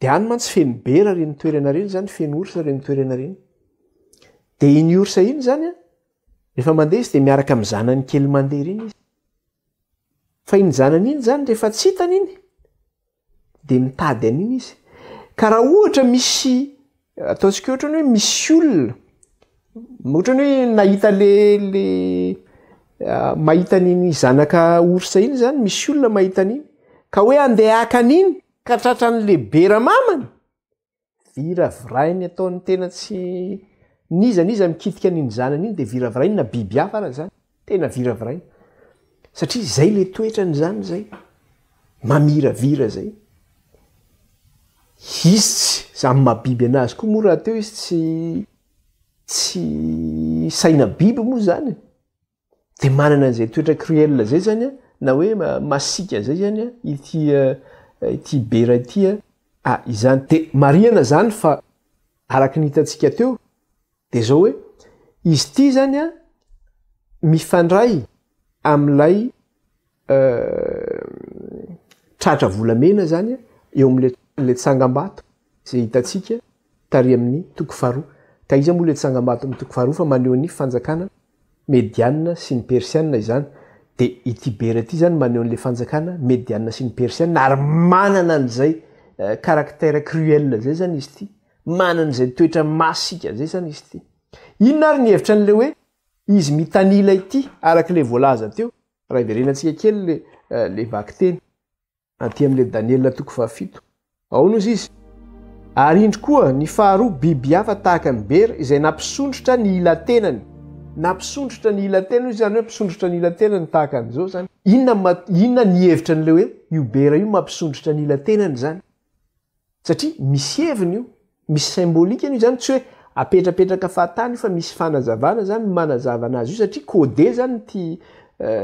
de any mantsy feno bera reny toerana reny zany feno orsa reny toerana reny de iny orsa iny zany a Rehefa mandeha izy dia miaraka amin'ny zanany kely mandeha ireny izy. Fa iny zanany iny izany rehefa tsy hitany iny dia mitady an'iny izy. Ka raha ohatra misy ataontsika ohatra hoe misy olona ohatra ny hoe nahita le le ah, mahita an'iny zanaka orsa iny izany misy olona mahita an'iny ka hoe andeha haka an'iny ka tratran'ny lehibe ramamany Viravirainy ataony tena tsy n'iza n'iza mikitika an'iny zanany iny dia viravirainy na biby hafa ara zany tena viravirainy satria zay le toetrany zany zay mamiravira zay izy tsy zany mabiby anazy koa moa rahateo izy tsy tsy saina biby moa zany e! de manana an'izay toetra cruel zay zany a na hoe masiaka zay zany a ity ity bera ity a ah izany de marihana zany fa araky ny hitantsika teo de zao hoe izy ity zany a mifandray am'ilay tratra volamena izany eo amin'ilay tsangambato izay hitantsika tary amin'ny toko faharoa. Ka iza moa ilay tsangambato amin'ny toko faharoa fa maneho ny fanjakana medianina sy ny persianina izany. Dia i Tibera ity izany maneho an'ilay fanjakana medianina sy ny persianina ary manana an'izay caractère cruel izay izany izy ity, manana izay toetra masika izay izany izy ity. Inona ary ny hevitra an'ilay hoe Izy mitanila ity araka ilay voalaza teo raha hiverenantsika kely ilay vakiteny aty amin'ilay Daniela toko fahafito. Aono ozy izy? Ary indry koa ny faharoa biby hafa tahaka ny bera izay nampisondrotra ny ila-tenany. Nampisondrotra ny ila-tenany izany hoe mpisondrotra ny ila-tenany tahaka an'izao izany. Inona inona ny hevitra an'ilay hoe io bera io mampisondrotra ny ila-tenany izany? satria misy heviny io, misy symbolique ny io zany tsy hoe apetrapetraka fahatany io fa misy fanazavana zany manazava anazy io satria code zany ity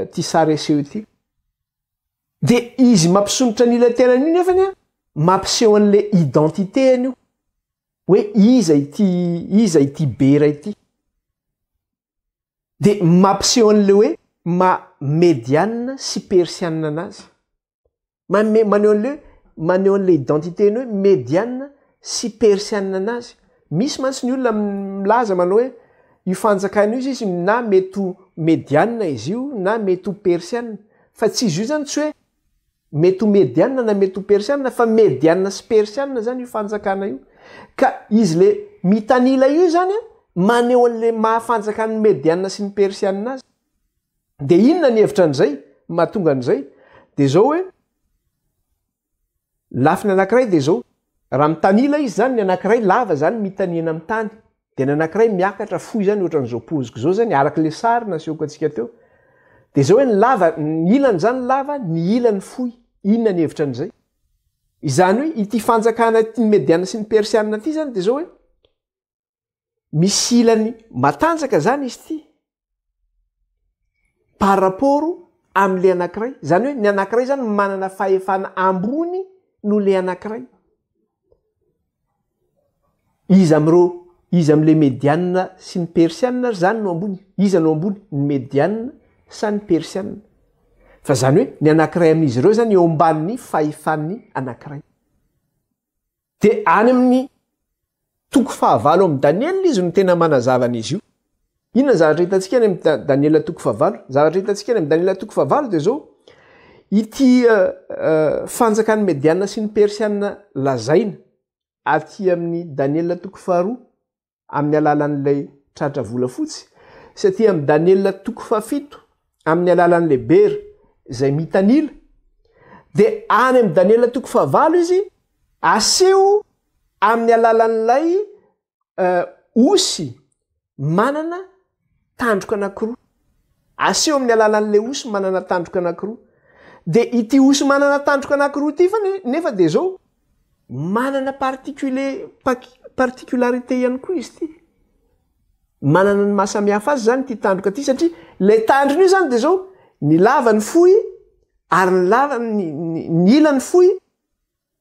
ity sary aseho ity. De izy mampisondrotra ny ilay tenany io nefany a mampiseho an'le identité-ny io hoe iza ity iza ity bera ity. De mampiseho an'le hoe maha medianina sy persianina anazy. Manome maneho an'le maneho an'le identité-ny hoe mediana sy persiana anazy. Misy mantsy ny olona milaza manao hoe io fanjakana io sisa na mety ho mediana izy io na mety ho persiana fa tsy izy io zany tsy hoe mety ho mediana na mety ho persiana fa mediana sy persiana zany io fanjakana io. Ka izy le mitanila io zany a maneho an'le maha fanjakan'ny mediana sy ny persiana azy. Dia inona ny hevitra an'izay? Ny mahatonga an'izay dia izao hoe, lafiny anankiray dia izao, raha mitanila izy izany, ny anankiray lava izany mitanihana amin'ny tany, dia ny anankiray miakatra fohy izany ohatran'izao poziko izao izany, araka ilay sary nasehoko antsika teo. Dia izao hoe ny lava, ny ilany izany lava, ny ilany fohy. Inona ny hevitra an'izay? Izany hoe ity fanjakana ity ny Mediana sy ny Persiana ity izany dia izao hoe, misy ilany matanjaka zany izy ty par rapport amle anakiray zany hoe ny anakiray zany manana fahefana ambony no le anakiray izy amreo izy amle medianina sy ny persianina ary zany no ambony iza no ambony ny medianina sa ny persianina fa zany hoe ny anakiray amin'izy ireo zany eo amban'ny fahefan'ny anakiray Dia any amin'ny toko fahavalo amin'ny Daniela izy no tena manazava an'izy io. Inona ny zavatra hitantsika any amin'ny Daniela toko fahavalo? Zavatra hitantsika any amin'ny Daniela toko fahavalo dia izao, ity fanjakan'ny Mediana sy ny Persiana lazaina aty amin'ny Daniela toko faharoa amin'ny alalan'ilay tratra volafotsy, satria amin'ny Daniela toko fahafito, amin'ny alalan'ilay bera izay mitanila, dia any amin'ny Daniela toko fahavalo izy aseho amin'ny alalan'ilay osy manana Tandroka anankiroa. Aseho amin'ny alalan'ilay osy manana tandroka anankiroa. Dia ity osy manana tandroka anankiroa ity fa nefa dia izao, manana particule, particularité ihany koa izy ity. Manana ny mahasamihafa azy izany ity tandroka ity satria ilay tandrony io izany dia izao, ny lavany fohy ary ny ny ilany fohy.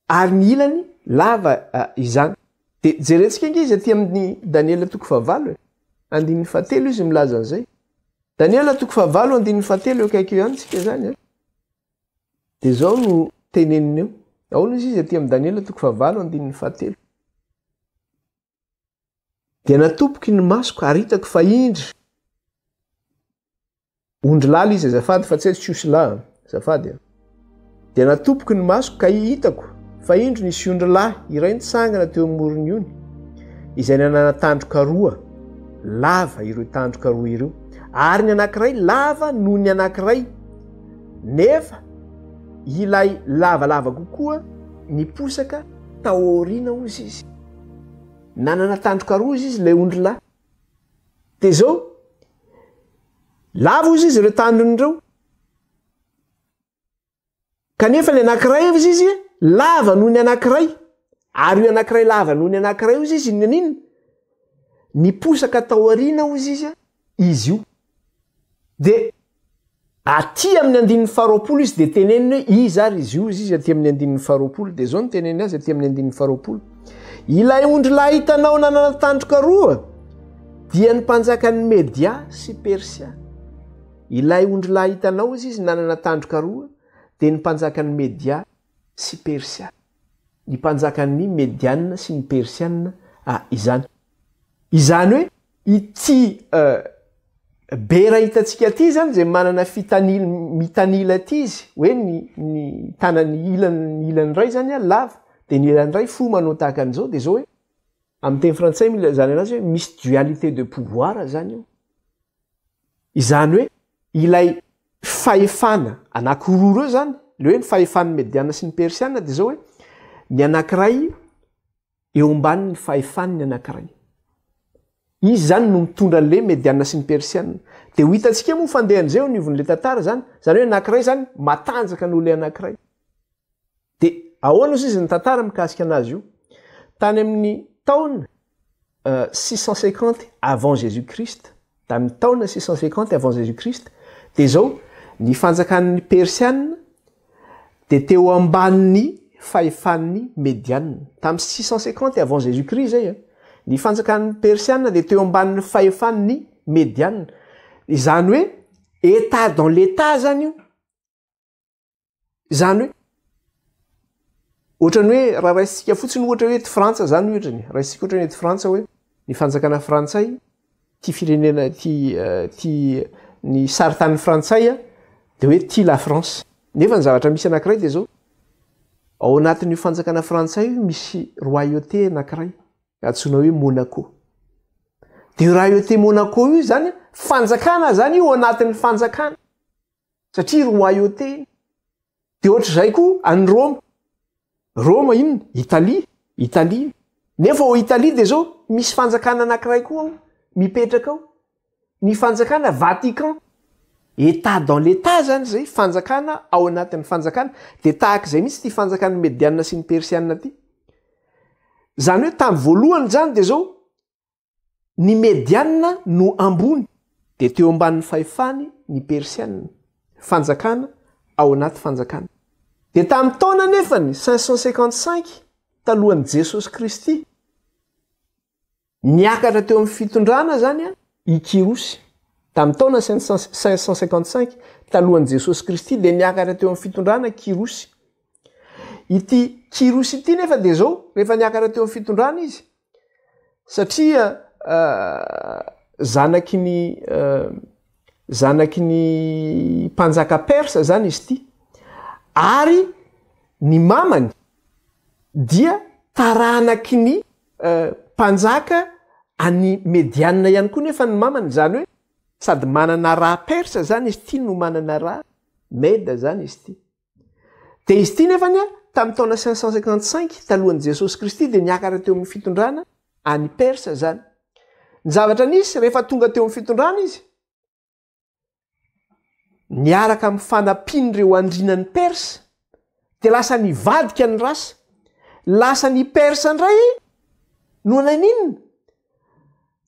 Ary ny ilany lava izany. Dia jerentsika ange izy aty amin'ny Daniela toko fahavalo e. Andininy fahatelo izy milaza an'izay. Daniela toko fahavalo andininy fahatelo eo akaiky eo ihany tsika izany an. Dia izao no teneniny eo. Ahoana izy izy aty amin'ny Daniela toko fahavalo andininy fahatelo. Dia natoboky ny masoko ary hitako fa indry ondrilahy ilay izy azafady fa tsy hoe tsy osy lahy azafady a. Dia natoboky ny masoko ka hitako fa indry nisy ondrilahy iray nitsangana teo amorony ony izay nanana tandroka roa lava ireo tandroka roa ireo ary ny anankiray lava noho ny anankiray nefa ilay lavalava kokoa niposaka taoriana ozy izy Nanana tandroka roa izy ilay ondry lahy. Dia izao, lavo izy ireo tandrony ireo. Kanefa ny anankiray izy izy lava noho ny anankiray. Ary io anankiray lava noho ny anankiray io izy izy inona inona? Niposaka tao aoriana io izy izy izy io. Dia aty amin'ny andininy faharoapolo izy dia teneniny hoe iza ary izy io, izy aty amin'ny andininy faharoapolo. Dia izao no teneniny azy aty amin'ny andininy faharoapolo. Ilay ondrilahy hitanao nanana tandroka roa dia ny mpanjakan'ny Media sy Persia. Ilay ondrilahy hitanao izy izy nanana tandroka roa dia ny mpanjakan'ny Media sy Persia, ny mpanjakan'ny Mediana sy ny Persiana a izany. Izany hoe ity a bera hitantsika ity izany izay manana fitanil mitanila ity izy hoe ny ny tanany ilany ny ilany iray izany a lava dia ny ilany iray fohy manao tahaka an'izao dia izao hoe amin'ny teny frantsay milazana anazy hoe misy dualité de pouvoir izany io. Izany hoe ilay fahefana anankiroa ireo izany, ilay hoe ny fahefan'ny Mediana sy ny Persiana dia izao hoe ny anankiray eo ambanin'ny fahefan'ny anankiray. Izy izany no mitondra an'ilay Mediana sy ny Persiana. Dia ho hitantsika moa fandehan'izay eo anivon'ilay tantara izany, izany hoe ny anankiray izany matanjaka noho ilay anankiray. Dia ahoana osa izy ny tantara mikasika anazy io? Tany amin'ny taona six cent cinquante avant Jesus Christ, tamin'ny taona six cent cinquante avant Jesus Christ, dia izao, ny fanjakan'ny Persiana dia teo ambanin'ny fahefan'ny Mediana. Tamin'ny six cent cinquante avant Jesus Christ izay, ny fanjakan'ny Persiana dia teo ambanin'ny fahefan'ny Mediana. Izany hoe état dans l'état zany io. izany hoe ohatrany hoe raha raisika fotsiny ohatra hoe ty frantsa zany ohatrany raisika ohatrany hoe ty frantsa hoe ny fanjakana frantsay ty firenena ty eh, ty ny saritany frantsay a de hoe ty la france nefa ny zavatra misy anakiray de zao ao anatin'io fanjakana frantsay io misy royauté anakiray atsoina hoe monaco de royauté monaco io zany fanjakana zany io anatin'ny fanjakana satria royauté iny, de ohatr'izay koa any Roma, Roma inona? Italie, Italie iny, nefa ao Italie de zao misy fanjakana anakiray koa ao mipetraka ao, ny fanjakana Vatican, Etat dans l'Etat zany zay, fanjakana ao anatin'ny fanjakana, de tahak'izay mihitsy ity fanjakan'ny Mediana sy ny Persiana ity, zany hoe tamin'ny voalohany zany de zao, Ny Medianina no ambony, dia teo ambanin'ny fahefany ny Persianina, fanjakana ao anaty fanjakana. Dia tamin'ny taona anefany cinq cent cinquante-cinq talohan'i Jesosy Kristy, niakatra teo amin'ny fitondrana izany i Kyrosy. Tamin'ny taona cinq cent cinquante-cinq talohan'i Jesosy Kristy dia niakatra teo amin'ny fitondrana Kyrosy. Ity Kyrosy ity nefa dia izao, rehefa niakatra teo amin'ny fitondrana izy, satria zanaky ny zanaky ny mpanjaka persa zany izy ity ary ny mamany dia taranaky ny mpanjaka any medianina ihany koa nefa ny mamany zany hoe sady manana raha persa zany izy ity no manana raha meda zany izy ity Dia izy ity nefany an, tamin'ny taona cinq cent cinquante cinq talohan'i Jesosy Kristy dia niakatra teo amin'ny fitondrana any Persa izany. Ny zavatra nisy rehefa tonga teo amin'ny fitondrana izy, niaraka amin'ny fanampian'ireo andrinan'i Persa dia lasa nivadika ny rasa. Lasa ny Persa indray no naninona?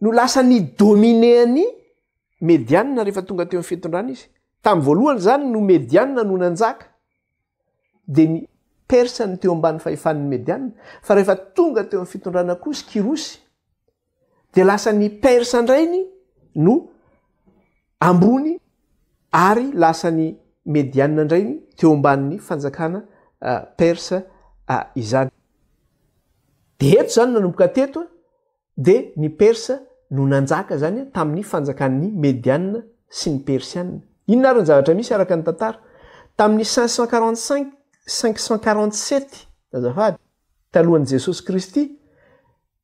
No lasa ny dominer an'i Medianina rehefa tonga teo amin'ny fitondrana izy. Tamin'ny voalohany izany no Medianina no nanjaka, dia ny Persa no teo ambany fahefan'ny Medianina, fa rehefa tonga teo amin'ny fitondrana Kosy, Kyrosy, dia lasa ny Persa indray ny no ambony ary lasa ny Medianina indray ny teo ambanin'ny fanjakana Persa izany. Dia eto izany nanomboka teto Dia ny Persa no nanjaka izany tamin'ny fanjakan'ny Medianina sy ny Persianina. Inona ary ny zavatra misy araka ny tantara? Tamin'ny cinq cent quarante-cinq, cinq cent quarante-sept, azafady, talohan'i Jesosy Kristy,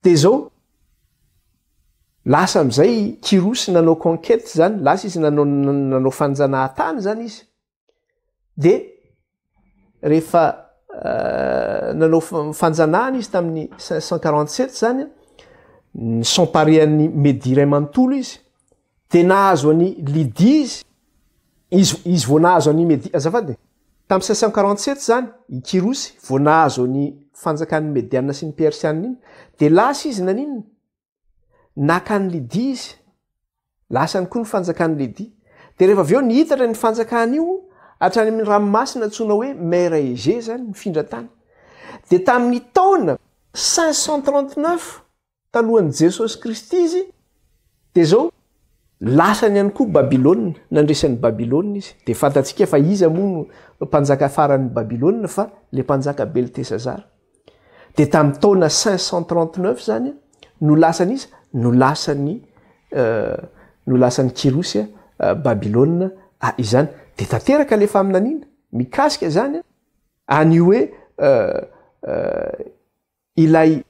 dia izao, lasa amin'izay Kyrosy nanao conquête izany, lasa izy nanao nanao fanjanahatany izany izy. dia rehefa euh, nanao fanjanahana izy tamin'ny cinq cent quarante sept zany ny samparean'ny medi ray manontolo izy dia nahazo any lidi izy izy izy vao nahazo any medi azafady tamin'ny cinq cent quarante sept zany i kirosy vao nahazo any fanjakan'ny mediana sy ny persianina iny dia lasa izy naninona naka an'i Lydia izy, lasany koa ny fanjakan'i Lydia. Dia rehefa avy eo nihitatra ny fanjakany io hatrany amin'ny ranomasina antsoina hoe Mer Egée izany, nifindra tany. Dia tamin'ny taona 539 talohan'i Jesosy Kristy izy, dia izao, Lasany ihany koa Babylona, nandresy an'i Babylona izy. Dia fantatsika fa iza moa no mpanjaka faran'ny Babylona fa ilay mpanjaka Beltesazara. Dia tamin'ny taona 539 izany no lasan'iza? No lasan'i no lasan'i Kyrosy Babylona izany. Dia tanteraka ilay faminaniana mikasika izany any hoe ilay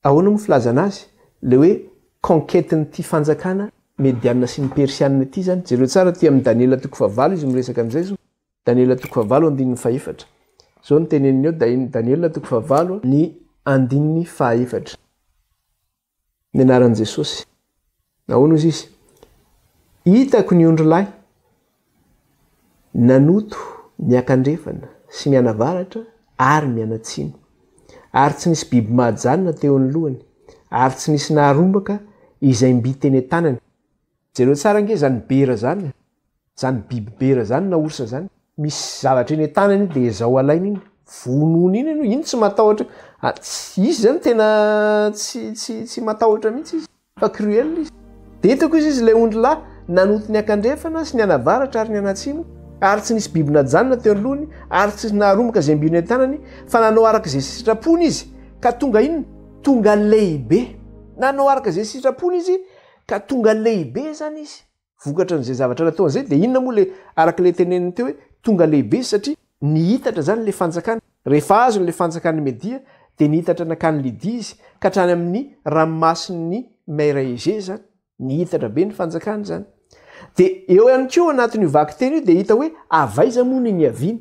Ahoana moa filazana azy? Le hoe conquête n'ity fanjakana medianina sy ny persianina ity zany? Jereo tsara aty amin'ny Daniela toko fahavalo izy miresaka an'izay zo, Daniela toko fahavalo andininy fahefatra. Zao no teneniny eo, Daniela toko fahavalo, ny andininy fahaefatra. Ny anaran'i Jesosy. Nahoana hozy izy? Hitako ny ondry lahy nanoto miankandrefana sy mianavaratra ary mianatsimo, ary tsy nisy biby mahajanona teo ny lohany, ary tsy nisy naharombaka izay mby teny an-tanany, Jereo tsara ange zany bera zany a! Zany biby bera zany na orsa zany, misy zavatra eny an-tanany iny dia zao alainy iny, vonoiny iny aloha, iny tsy matahotra, izy zany tena tsy tsy tsy matahotra mihitsy izy fa cruel izy. Dia hitako izy izy lay ondry lahy nanonto ny akandrefana sy ny anavaratra ary ny anatsimo ary tsy nisy biby najanona teo anoloany ary tsy naharomboka izay mby eny an-tanany fa nanao araka izay sitrapony izy ka tonga inona? Tonga lehibe! Nanao araka izay sitrapony izy Ka tonga lehibe izany izy vokatry an'izay zavatra nataony izay, dia inona moa ilay araka ilay teneniny teo hoe tonga lehibe izy satria nihitatra izany ilay fanjakana. Rehefa azony ilay fanjakan'i Media dia nihitatra nankany Lydia izy ka hatrany amin'ny ranomasin'i Meiraiege izany, nihitatra be ny fanjakany izany. Dia eo ihany koa anatin'io vakiteny io dia hita hoe avy aiza moa no niaviany.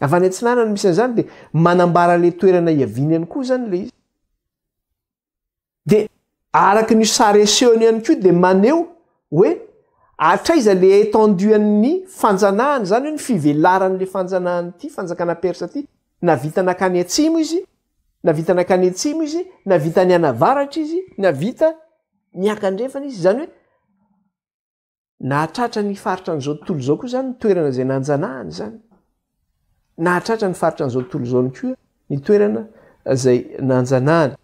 Avy any atsinanana misy an'izany dia manambara ilay toerana hiaviany ihany koa izany ilay izy. Dia araka ny sary asehony ihany koa dia maneho hoe hatraiza ilay étendue an'ny fanjanahana izany hoe ny fivelaran'ilay fanjanahan'ity fanjakana persa ity na vita nakany atsimo izy na vita nakany atsimo izy na vita any anavaratra izy na vita miankandrefana izy izany hoe Nahatratra ny faritra an'izao tontolo izao koa izany ny toerana izay nanjanahany izany. Nahatratra ny faritra an'izao tontolo izao ny koa ny toerana izay nanjanahany.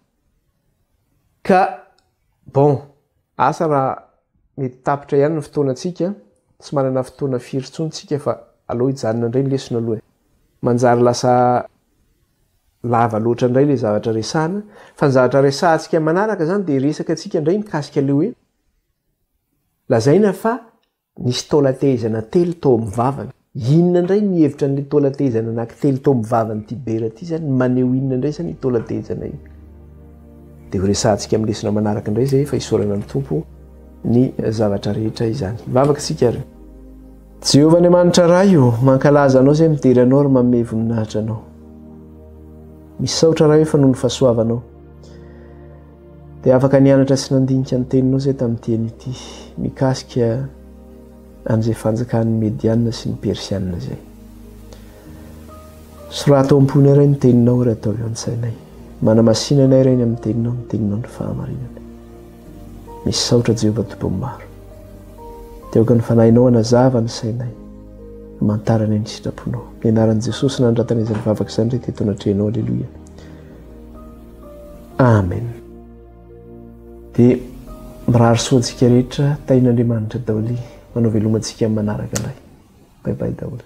Ka, bon, asa raha mety tapitra ihany ny fotoanantsika, tsy manana fotoana firy intsony tsika fa aleo hijanona indray ny lesona aloha e. Manjary lasa lava loatra indray ilay zavatra resahana, fa ny zavatra resahantsika manaraka izany dia resaka antsika indray mikasika ilay hoe Lazaina fa nisy taolan-tehezana telo tao amin'ny vavany. Inona indray ny hevitra an'ilay taolan-tehezana anankitelo tao amin'ny vavan'ity bera ity izany? Maneho inona indray izany io taolan-tehezana io? Dia ho resahantsika amin'ny lesona manaraka indray izay fa isaorana amin'ny Tompo ny zavatra rehetra izany. Hivavaka isika ary. Jehovah Andriamanitra Ray ô, mankalaza Anao izay midera Anao ary manome voninahitra Anao. Misaotra Ray ô fa noho ny fahasoavanao. Dia afaka nianatra sy nandinika ny teninao izay tamin'ny teny ity mikasika an'izay fanjakan'ny Medianina sy ny Persianina izay. Soraty ao am-ponay iray ny teninao ary ataovy ao an-tsainay. Manamasina anay iray ny amin'ny teninao, ny teninao ny fahamarinana. Misaotra Jehovah Tompon'ny maro. Dia aoka ny fanahinao hanazava ny sainay, hamantarana ny sitraponao. Ny anaran'i Jesosy nandratanay izany vavaka izany rehetra eto anatrehanao. Aleloia. Amen dia mirary soa antsika rehetra tahin'Andriamanitra daoly manao veloma antsika amin'ny manaraka indray bye bye daoly